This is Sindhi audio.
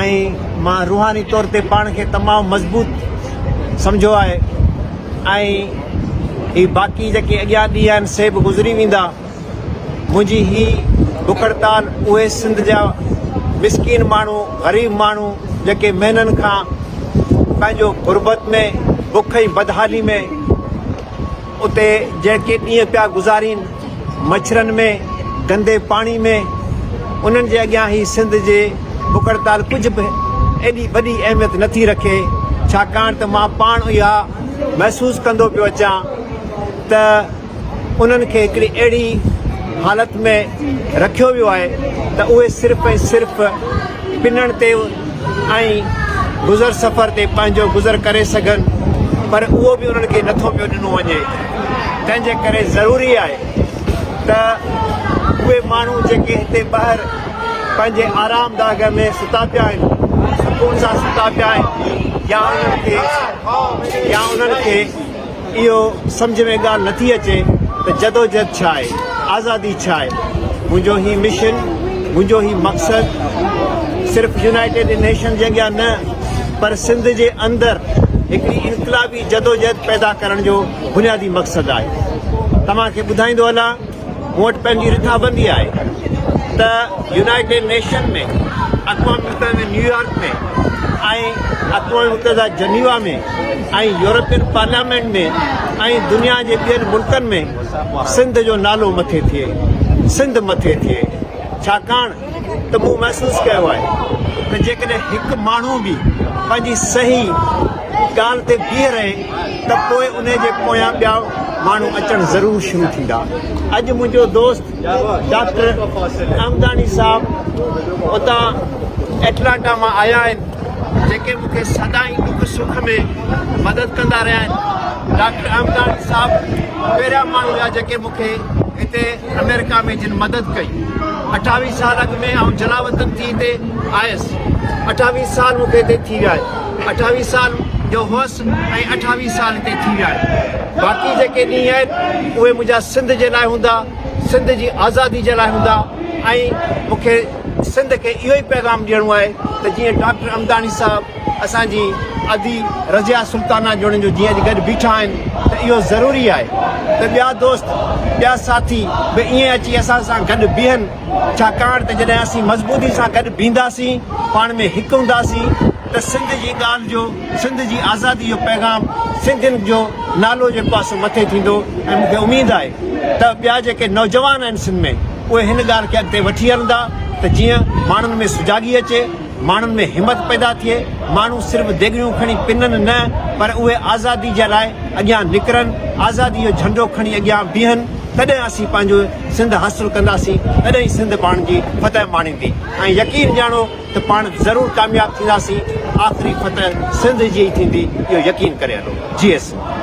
۽ مان روحاني طور تي پاڻ کي تمام مضبوط سمجهيو آهي ۽ هي باقي جيڪي اڳيان ڏينهن آهن سي به گذري ويندا منهنجي هي بکڙتال اهي سنڌ جا مسڪين ماڻهو غريب ماڻهو جيڪي مهينن کان پنهنجو غربت ۾ بک ۽ بدحالي ۾ اتي جيڪي ڏينهن پيا گذارين مڇرن ۾ گندي پاڻي ۾ انهن جي اڳيان هي سنڌ جي بک هڙتال ڪجهه به ايڏي وڏي اهميت نٿي رکي ڇاڪاڻ ته مان پاڻ اها محسوس ڪندو پيو اچان ته انهن کي هڪڙي اهڙي حالت ۾ رکيو ويو آهي ته اهي صرف ۽ صرف پنڻ تي ۽ گذر سفر تي پنهنجو گذر ڪري سگهن پر اهو به انهن کي نٿو پيو ڏنو وڃي تنهن جي ڪري ضروري آهي ته اهي ماڻهو جيڪي هتي ٻاهر پنهنجي آرام داغ ۾ ستا پيا آهن سڪون سان ستا پيا آهن يا انهن کي يا انهن کي اهو سمجهه ۾ ڳالهه نه ٿي اچي ته جدوجهد ڇا آهي، آزادي ڇا آهي؟ منهنجو هي مشن، منهنجو هي مقصد صرف يونائيٽيڊ نيشنز جي اڳيان نه پر سنڌ جي اندر هڪڙي انقلابي جدوجهد پيدا ڪرڻ جو بنيادي مقصد آهي. توهان کي ٻڌائيندو هلان. مون وٽ پنهنجي رٿابندي آهي ته يونائيٽيڊ نيشن ۾ اقوام متحده ۾ نيويارڪ ۾ ۽ اقوام متحده جنيوا ۾ ۽ يورپين پارليامينٽ ۾ ۽ دنيا جي ٻين ملڪن ۾ سنڌ جو نالو مٿي ٿئي سنڌ مٿي ٿئي ڇاڪاڻ ته مون محسوس ڪيو آهي ته جيڪڏهن هڪ ماڻهو به پنهنجي صحيح ڳالهه تي بيهي رهي ته پوء انهي جي پويان ٻيا ماڻهو اچڻ ضرور شروع ٿيندا. اڄ منهنجو دوست ڊاڪٽر عمداني صاحب اتان ايٽلانٽا مان آيا آهن جيڪي مون کي سدائين ڏک سک ۾ مدد ڪندا رهيا آهن. ڊاڪٽر عمداني صاحب پهريان ماڻهو هيا جيڪي مون کي هتي آمريڪا ۾ جن مدد ڪئي. اٺاويهه سال اڳ ۾ آئون جلاوطن ٿي هتي آيس. اٺاويهه سال مون کي هتي ٿي ويا آهن. اٺاويهه سال جو هئس ۽ اٺاويهه سال هتي ٿي ويا آهن. باقي جيڪي ڏينهن آهن اهي منهنجا سنڌ جي لاء هوندا، سنڌ جي آزادي جي لاء هوندا ۽ مون کي سنڌ کي اهو ئي پيغام ڏيڻو آهي ته جيئن ڊاڪٽر امداڻي صاحب، اسان جي ادي رضيه سلطانه جوڻيجو جيئن اڄ گڏ بيٺا آهن ته اهو ضروري آهي ته ٻيا دوست ٻيا ساٿي به ائين اچي اسان سان گڏ بيهن ڇاڪاڻ ته جڏهن اسين مضبوطي سان گڏ بيهنداسين پاڻ ۾ هڪ هونداسين ته سنڌ جي ڳالهه جو سنڌ جي آزادي جو پيغام سنڌين جو نالو جيڪو آهي سو مٿي ٿيندو ۽ مون کي اميد آهي ته ٻيا جيڪي نوجوان آهن سنڌ ۾ اهي هن ڳالهه کي اڳتي وٺي هلندا ته جيئن ماڻهن ۾ سجاڳي اچي. ماڻهن ۾ همت پيدا ٿئي، ماڻهو صرف ديڳڙيون کڻي پنن نه پر اهي آزادي جي لاء اڳيان نڪرن، آزادي جو جهنڊو کڻي اڳيان بيهن، تڏهن اسين پنهنجو سنڌ حاصل ڪنداسين، تڏهن ئي سنڌ پاڻ جي فتح ماڻيندي ۽ يقين ڄاڻو ته پاڻ ضرور ڪامياب ٿينداسين، آخري فتح سنڌ جي ئي ٿيندي اهو يقين ڪري هلو. جيئي سنڌ.